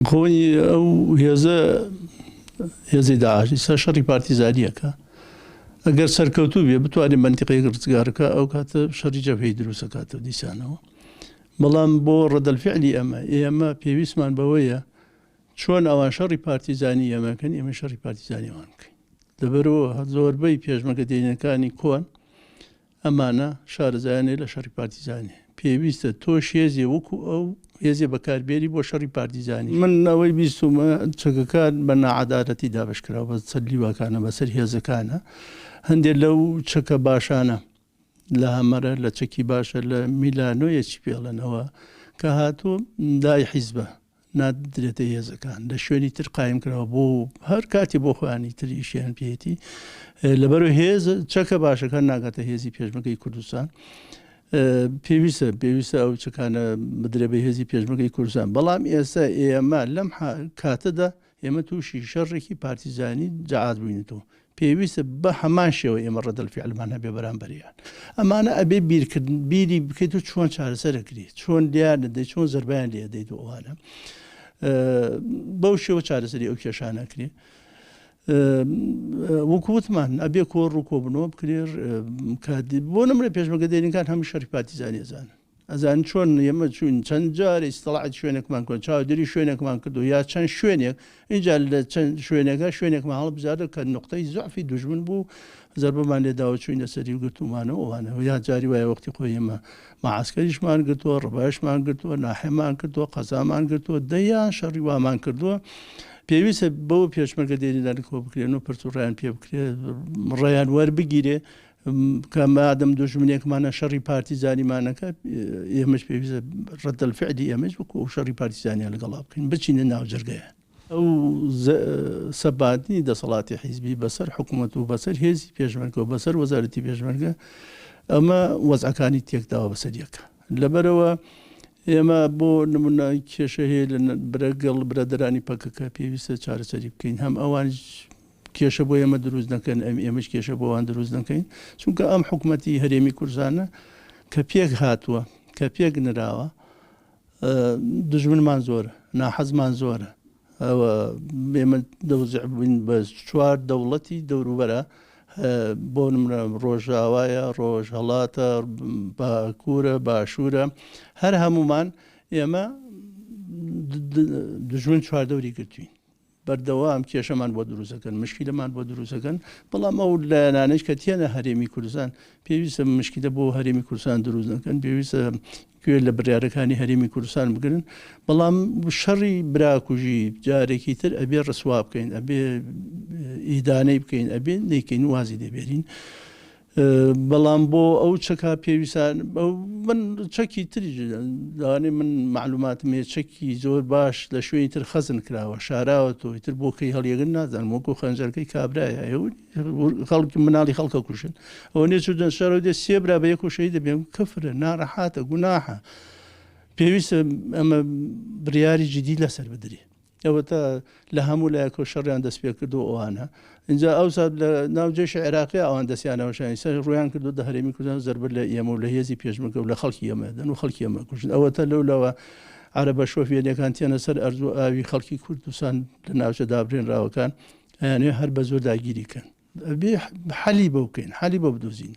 خۆی ئەو هێزە هێزی داعش ئیستا شەڕی پارتیزانیەکە ئەگەر سەرکەوتوو بێ بتوانێت منتیقەیەک ڕزگارکە ئەو کاتە شەڕی جەبهەی دروستەکاتەوە دیسانەوە بەڵام بۆ ڕەدەلفعلی ئەمە ئێمە پێویستمان بەوەیە چۆن ئەوان شەڕی پارتیزانی ئێمەکەن ئێمە شەڕی پارتیزانیوان بکەین لەبەرەوە زۆربەی پێشمەگە دێنەکانی کۆن ئەمانە شارەزایانێ لە شەڕی پارتیزانی. پێویستە تۆش هێزێ وەکو ئەو هێزێ بەکار بێری بۆ شەڕی پارتیزانی. من ئەوەی بیستومە چەکەکان بە ناعەدالەتی دابەش کراو بە سەر لیواکانە بە سەر هێزەکانە هەندێ لەو چەکە باشانە لە هەمەرە لە چەکی باشە لە میلانۆیە چی پێڵێن ئەوە کە هاتوو دای حیزبە نادرێتە هێزەکان لە شوێنی تر قایم کراوە بۆ هەر کاتی بۆ خۆیانی تر ئیشیان پێێتی لەبەرو هێز چەکە باشەکان ناگاتە هێزی پێشمەکەی کوردستان پێویستە پێویستە ئەو چکانە بدرێ بە هێزی پێشمەکەی کوردستان بەڵام ئێستا ئێمە لەم کاتەدا ئێمە تووشی شەڕێکی پارتیزانی جەعات بووینەتەوە، پێویستە بە هەمان شێوە ئێمە ڕەدەلفیعلمان هەبێ بەرامبەریان. ئەمانە ئەبێ بیرکردن، بیری بکەیت و چۆن چارەسەر ئەکریت، چۆن لێیان دەدەیت، چۆن زەربەیان لێ ئەدەیت و ئەوانە. بەو شێوە چارەسەری ئەو کێشانە ئەکرێت. وەکو وتمان ئەبێ کۆڕ و کۆبنەوە بکرێ کە بۆ نمرە پێشمەگە دێرینکان هەمی شەڕی پارتیزانی ئەزانن. ئەزانی چۆن ئێمە چووین چەند جار ئیستراحەت شوێنێکمان کردووە، چاودێری شوێنێکمان کردووە یا چەند شوێنێک، ئینجا لە چەند شوێنێکا شوێنێکمان هەڵبژاردووە کە نوقتەی زوعفی دوژمن بوو، زەربەمان لێ داوە چووینە سەری و گرتوومانەوە و وانە. یا جاری وایە وەختی خۆی ئێمە مەعەسکەریشمان گرتووە، ڕبایشمان گرتووە، ناحێمان کردووە، قەزامان گرتووە، دەیان شەڕی وامان کردووە. پێویستە بەوە پێشمەرگە دێرینانە کۆ بکرێن و پرس و ڕایان پێ بکرێ، ڕێیان وەربگیرێ، کە مادەم دوژمنێکمانە شەڕی پارتیزانیمان نەکات ئێمەش پێویستە ڕەتەلفعلی ئێمەش بکو و شەڕی پارتیزانیان لەگەڵا بکەین بچینە ناوجرگەیە ئەو سەباتنی دەسەڵاتی حیزبی بەسەر حکوومەت و بەسەر هێزی پێشمەرگە و بەسەر وەزارەتی پێشمەرگە ئەمە وەزعەکانی تێکداوە بەسەر یەکە لەبەرەوە ئێمە بۆ نمونە کێشە هەیە لە برەگەڵ برادرانی پەکەکە پێویستە چارەسەری بکەین هەم ئەوان کێشە بۆ ئێمە دروست نەکەن ئەم ئێمەش کێشە بۆوان دروست نەکەین چونکە ئەم حکوومەتی هەرێمی کورسانە کە پێک هاتووە کە پێک نراوە دژمنمان زۆرە ناحەزمان زۆرە ئەوە بێمە دەوزعبووین بە چوار دەوڵەتی دەوروبەرە بۆ نمرە ڕۆژاوایە ڕۆژ هەڵاتە باکوورە باشوورە هەر هەمومان ئێمە دژمن چواردەوری گرتوین بەردەوام کێشەمان بۆ دروست دەکەن مشکیلەمان بۆ دروست دەکەن بەڵام ئەو لایەنانەیش کە تێنە هەرێمی کوردستان پێویستە مشکیلە بۆ هەرێمی کوردستان دروست نەکەن پێویستە گوێ لە بریارەکانی هەرێمی کوردستان بگرن بەڵام شەڕی براکوژی جارێکی تر ئەبێ ڕسوا بکەین ئەبێ ئیدانەی بکەین ئەبێ نەیکەین وازی دەبێرین بەڵام بۆ ئەو چەکە پێویستە من چەکی تریش لەوانەیە من معلوماتم هەیە چەکی زۆر باش لە شوێنی تر خەزن کراوە شاراوە تۆی تر بۆ کەی هەڵیەگەن نازانم وەکو خەنجەرەکەی کابرایە خەڵکی مناڵی خەڵکە کوشن ئەوە نێ چودن شەرەوە دێ سێبرا بە یەکو شەهید دەبێم کەفرە ناڕەحاتە گوناحە پێویستە ئەمە بریاری جدی لەسەر بدرێ ئەوەتا لە هەموو لایەکەوە شەڕیان دەست پێ کردووە ئەوانە ئینجا ئەوسا لە ناو جێشی عێراقی ئەوان دەستیانە وەشانی سەر ڕویان کردو دە هەرێمی کوردستان زەربەر لە ئێمە و لە هێزی پێشمەگە و لە خەڵکی ئێمە دەن و خەڵکی ئێمە کوژن ئەوەتا لەو لەوە عەرەبە شۆفێنەکان تێنە سەر ئەرز و ئاوی خەڵکی کوردستان لە ناوچە دابرێنراوەکان ئەیانێ هەر بە زۆر داگیری کەن بێ حەلی بەو بکەین حەلی بۆ بدۆزین